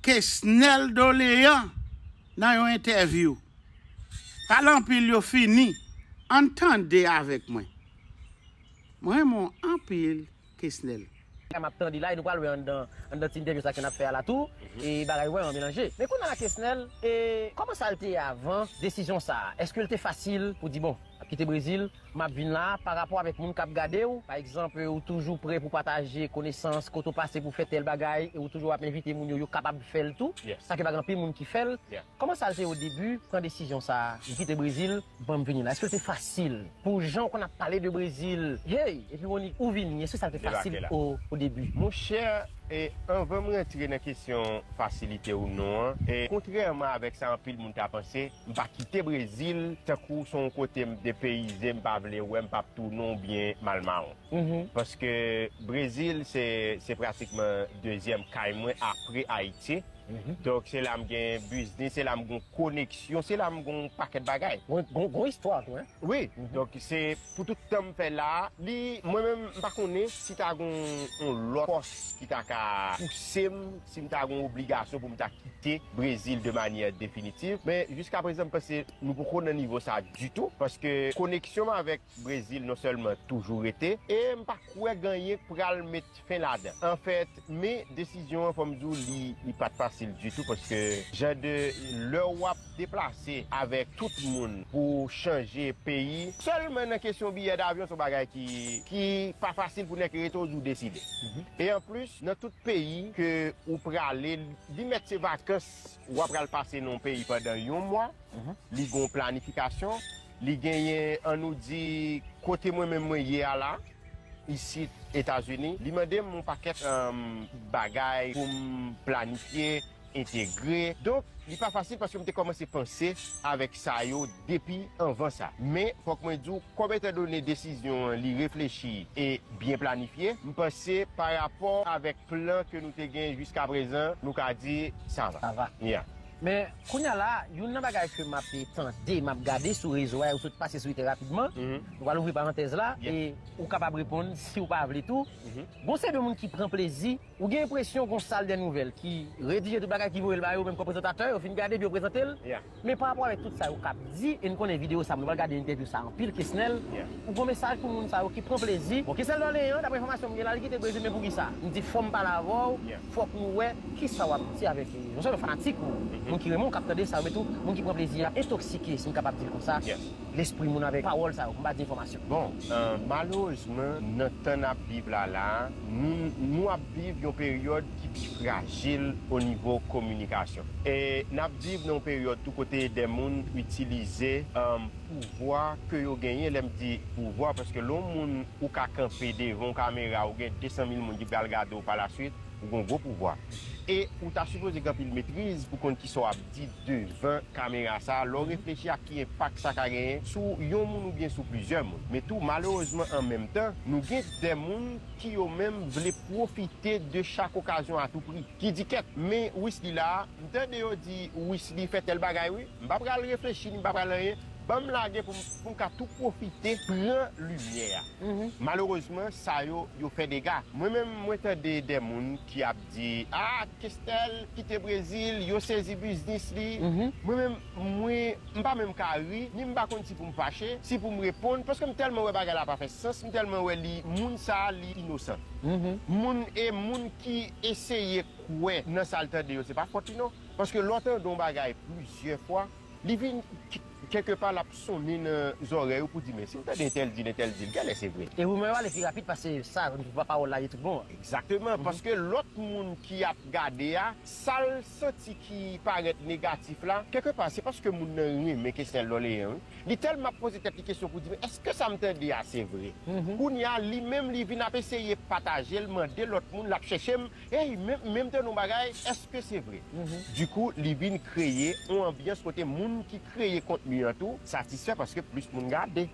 Kesnel Dolean nan yon entèvyou. Pale anpil yo fini. Ann tande avèk mwen. Mwen renmen w anpil Kesnel. Sa map tande la e nou pral wè anndan anndan ti entèvyou sa ke nap fè a la tou e bagay yo vrèman melanje. Men kounya la Kesnel e kòman sa l te ye avan desizyon sa a? Èske l te fasil pou di bon? Map kite Brezil, map vin la, pa rapò avèk moun kap gadew, pa egzanp ou toujou pre pou pataje konesans, kote ou pase pou fè tèl bagay e ou toujou ap envite moun yo, yo kapab fèl tou, sa ke pa gen anpil moun ki fèl, kòman sa te o debu pran desizyon sa, m kite Brezil, banm vini la, èske l te fasil pou jan ou konn ap pale de Brezil, hey, epi Rony ou vini, èske sa te fasil o debu? Monchè, anvan m rantre nan kesyon fasilite ou non an, kontrèman avèk sa anpil moun ta panse, M pa kite brezil tankou son kote m depeyize m pa vle wè m pap tounen w byen mal mawon paske brezil se pratikman dezyèm kay mwen apre ayiti donk se la m gen biznis se la m gon koneksyon se la m gon pakèt bagay gon istwa tou wi donk se pou tout tan m fè la li mwen menm m pa konnen si ta gon yon lòt fòs ki ta ka pouse m. Si m ta gen yon obligasyon pou m ta kite Brezil de manyè definitiv, men jiska prezan m panse nou poko nan nivo sa ditou paske koneksyon m avèk Brezil non sèlman toujou rete e m pa kwè ganyen k pral met fen ladan anfèt men desizyon an fò m di w li pat fasil ditou paske jan de lè wap Deplase avèk tout moun pou chanje peyi. Sèlman nan kesyon biyè davyon se yon bagay ki pa fasil pou nèg ki rete ou di ou deside. E anplis nan tout peyi ke ou prale li mèt se vakans ou apral pase nan yon peyi pandan yon mwa, li gen yon planifikasyon, li genyen an nou di kote mwen menm mwen ye a la isit Etazini li mande m yon pakèt bagay pou m planifye, entegre. Donk, li pa fasil paske m te kòmanse panse avèk sa yo depi anvan sa. Men, fòk mwen di w, kòm etandone desizyon an li reflechi e byen planifye, m panse pa rapò avèk plan ke nou te gen jiskaprezan, nou ka di sa va. Sa va. Ya. Men, kounye a la, youn nan bagay ke m ape tande, m ap gade sou rezo a, e ou sot pase sou li trè rapidman, nou pral ouvri parantèz la, e ou kapab reponn si ou pa vle tou, gen yon seri de moun ki pran plezi. Ou gen enpresyon gon sal dè nouvèl ki redije tout bagay ki voye l ba yo menm kò prezantatè yo fin gade epi yo prezante l men pa rapò avèk tout sa yo kap di e n konnen videyo sa nou pral gade entèvyou sa anpil Kesnel ou gon mesaj pou moun sa yo ki pran plezi bon Kesnel Dorlé an daprè enfòmasyon m gen la li kite Brezil men pou kisa m di fò m pale avè w fòk nou wè kisa w ap di avèk non sèlman fanatik ou moun ki renmen w k ap tande sa yo men tou moun ki pran plezi a entoksike si m kapab di l konsa lespri moun avèk pawòl sa yo pou m pa di enfòmasyon bon malerezman nan tan n ap viv la la a. Nou ap viv yon peryòd ki pi frajil o nivo kominikasyon. N ap viv nan yon peryòd tou kote dè moun itilize pouvwa ke yo genyen, lè m di pouvwa, paske lè yon moun ou ka kanpe devan yon kamera, ou gen 200 mil moun ki pral gade w pa la swit, ou gen yon gwo pouvwa. E ou ta sipoze gen anpil metriz pou konn kisa w ap di devan kamera sa a, lè w reflechi ak ki enpak sa ka genyen sou yon moun oubyen sou plizyè moun. Men tou malerezman an menm tan, nou gen. Dè moun ki yo menm vle pwofite de chak okazyon a tou pri. Ki di kèt, men Wisly la a, m tande yo di Wisly fè tèl bagay wi, m pa pral reflechi ni m pa pral anyen, ban m lage pou m pou m ka tou pwofite pran limyè a. Malerezman sa yo, yo fè dega. Mwen menm mwen tande dè moun ki ap di, a Kestel kite Brezil, yo sezi biznis li. Mwen menm. Mwen m pa menm ka ri, ni m pa konn si pou m fache, si pou m reponn, paske m tèlman wè bagay la pa fè sans, m tèlman wè li moun sa a li inosan. Moun e moun ki eseye kwè nan sa l tande yo se pa fòt li non, paske lè w tande yon bagay plizyè fwa, li vin kèlke pa l ap sonnen nan zòrèy ou pou w di men si m tande entèl di l entèl di l gèlè se vre. E rumè yo ale pi rapid pase sa pawòl la ye tout bon an. Egzakteman, paske lòt moun ki ap gade a, sa l. santi ki parèt negatif la, kèlke pa se paske moun nan renmen Kesnel Dorlean wi. Li tèlman ap poze tèt li kesyon pou di men èske sa m tande a se vre? Kounye a li menm li vin ap eseye pataje l, mande lòt moun, l ap chèche m, ey men men m tande yon bagay, èske se vre? Dikou li vin kreye yon anbyans kote moun ki kreye kontni an tou satisfè paske plis moun gade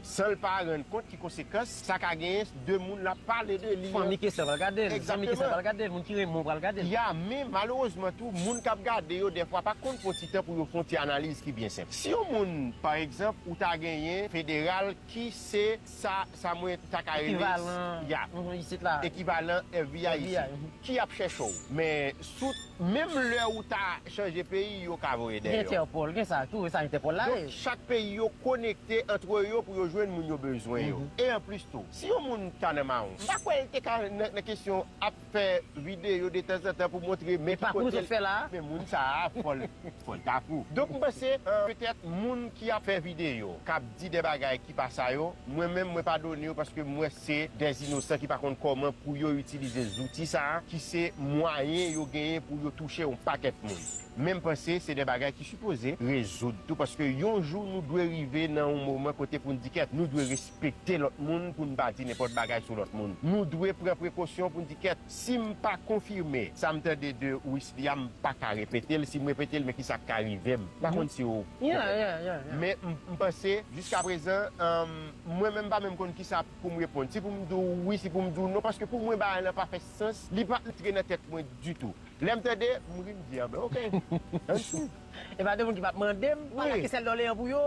san l pa rann kont ki konsekans Sa ka gen de moun l ap pale de li an. Fanmi Kester pral gade l. Zanmi Kester pral gade l. Moun ki renmen w pral gade l. Ya men malerezman tou moun k ap gade yo dèfwa pa konn pran ti tan pou yo fè yon ti analiz ki byen senp. Si yon moun pa egzanp ou ta genyen federal ki se sa sa mwen ta ka rele. Ekivalan. Ya. Isit la. Ekivalan FBI isit. FBI. Ki ap chèche w. Men. Tout, menm lè ou ta chanje peyi yo ka voye deyò. Gen Interpol, gen sa tou, e sa Interpol la ye. Donk chak peyi yo konekte antre yo pou yo jwenn moun yo bezwen yo. E anplis tou, si yon moun ta nan mawon, m pa kwè l te ka nan kesyon ap fè videyo detanzantan pou montre men ki kote l. E pakou nou sot fè la a? Men moun sa a fò l ta fou. Donk m panse petèt moun ki ap fè videyo, k ap di de bagay ki pa sa yo, mwen menm mwen padone yo paske m wè se dè inosan ki pa konn kòman pou yo itilize zouti sa a ki se mwayen yo genyen pou yo touche yon pakèt moun. Men m panse se dè bagay ki sipoze rezoud tou paske yon jou nou dwe rive nan yon moman kote pou n di kèt nou dwe respekte lòt moun pou n pa di nenpòt bagay sou lòt moun. Nou dwe pran prekosyon pou n di kèt. Sim pa konfime sam tande de Wisly a m paka repetel sim repetel men kisa k ka rivem m pa konn siw konprann men m panse jiska prezan mwen menm m pa menm konn kisa poum reponn si poum diw wi si poum diw non paske pou mwen bagay lan pa fè sans li pa antre nan tèt mwen ditou lèm tande m ri m di anben ok ann swiv. E pa gen moun ki pap mande m pala ki sèl doleyan pou yo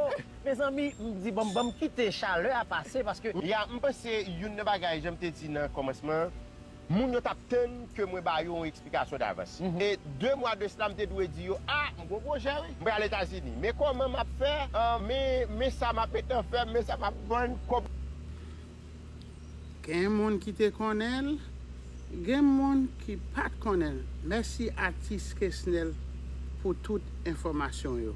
Mezanmi m di bon banm kite chalè a pase paske. Ya m panse youn nan bagay jan m te di nan kòmansman an moun yo tap tann ke mwen ba yo yon eksplikasyon davans e 2 mwa de sla m te dwe di yo a m gon pwojè wi m pral etazini men kòman map fè men sa map etan fè men sa map vann kòb Gen moun ki te konnen l, gen moun ki pat konnen l. Mèsi atis Kesnel pou tout enfòmasyon yo.